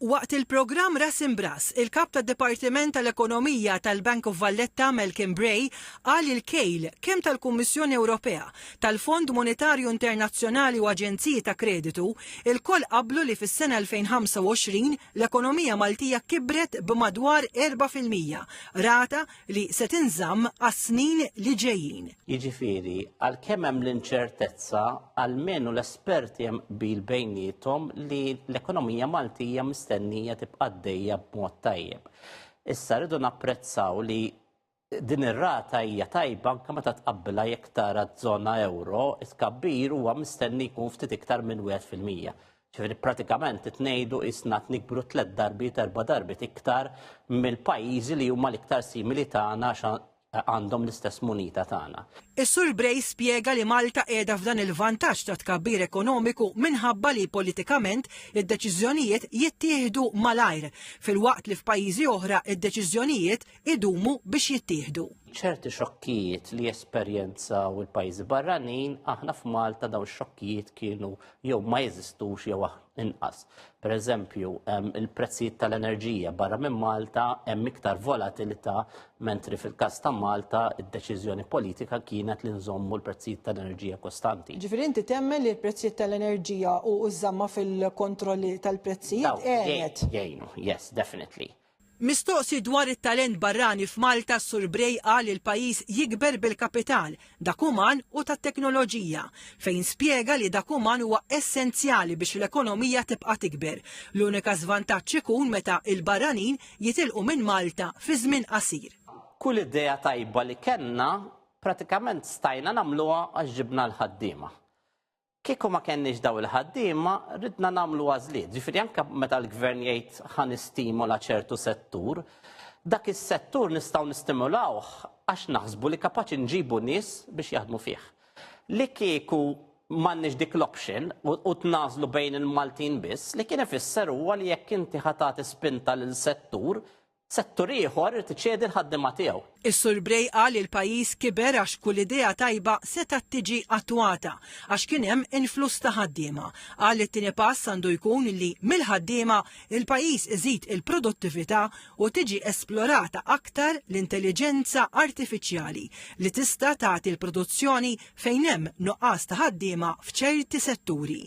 Waqt il-programm Ras Imb'Ras, il-Kap tad-Dipartiment tal-Ekonomija tal-Bank of Valletta Malcolm Bray qal il-kejl kemm tal-Kummissjoni Ewropea, tal-Fond Monetarju Internazzjonali u aġenziji ta' kreditu, ilkoll qablu li fis-sena 2025 l-ekonomija Maltija kibret b'madwar erbgħa fil-mija, rata li se tinżamm għas-snin li ġejjin. Jiġifieri, għalkemm hemm l-inċertezza, almenu l-esperti hemm qbil bejniethom li l-ekonomija Maltija mistennija tibqa' għaddejja b'mod tajjeb. Issa rridu napprezzaw li din ir-rata hija tajba anke meta tqabbilha jekk tara ż-żona euro, it-tkabbir huwa mistenni jkun ftit iktar minn wieħed fil-mija. Ġifieri pratikament qed ngħidu qisna qed nikbru tliet darbiet erba' darbiet iktar mill-pajjiżi li huma l-iktar simili tagħna għax għandhom l-istess munita tagħna. Is-Sur Bray spjega li Malta qiegħda f'dan il-vantaġġ ta' tkabbir ekonomiku minħabba li politikament id-deċiżjonijiet jittieħdu malajr, filwaqt li f'pajjiżi oħra id-deċiżjonijiet idumu biex jittieħdu. ċerti xokkijiet li jesperjenzaw il-pajjiżi barranin, aħna f'Malta dawn ix-xokkijiet kienu jew ma jeżistux jew inqas. Per eżempju, il-prezzijiet tal-enerġija barra minn Malta hemm iktar volatilità mentri fil-każ ta' Malta id-deċiżjoni politika kienet li nżommu l-prezzijiet tal-enerġija kostanti. Ġifieri inti temmen li l-prezzijiet tal-enerġija u ż-żamma fil-kontrolli tal-prezzijiet għenet. Jgħinu, yes, definitely. Mistoqsi dwar it-talent barrani f'Malta s-Sur Bray qal li l-pajjiż jikber bil-kapital, dak uman u tat-teknoloġija, fejn spjega li dak uman huwa essenzjali biex l-ekonomija tibqa' tikber. L-unika żvantaġġ ikun meta l-barranin jitilqu minn Malta fi żmien qasir. Kull idea tajba li kellna pratikament stajna nagħmluha għax ġibna l-ħaddiema. Kieku ma kenniex daw il-ħaddiema, ridna nagħmlu għażliet. Ġifieri anke meta l-gvern jgħid ħa nistimola ċertu settur, dak is-settur nistgħu nistimulawh għax naħsbu li kapaċi nġibu nies biex jaħdmu fih. Li kieku m'għandniex dik l-option u tnażlu bejn il-Maltin biss, li kien ifisser huwa li jekk inti ħa tagħti spinta lil settur Settur ieħor irid iċedi l-ħaddiema tiegħu. Is-Sur Bray qal li l-pajjiż kiber għax kull idea tajba setgħet tiġi attwata għax kien hemm influss ta' ħaddiema. Qal li t-tieni pass għandu jkun li mill-ħaddiema l-pajjiż iżid il-produttività u tiġi esplorata aktar l-intelliġenza artifiċjali li tista' tagħti l-produzzjoni fejn hemm nuqqas ta' ħaddiema f'ċerti setturi.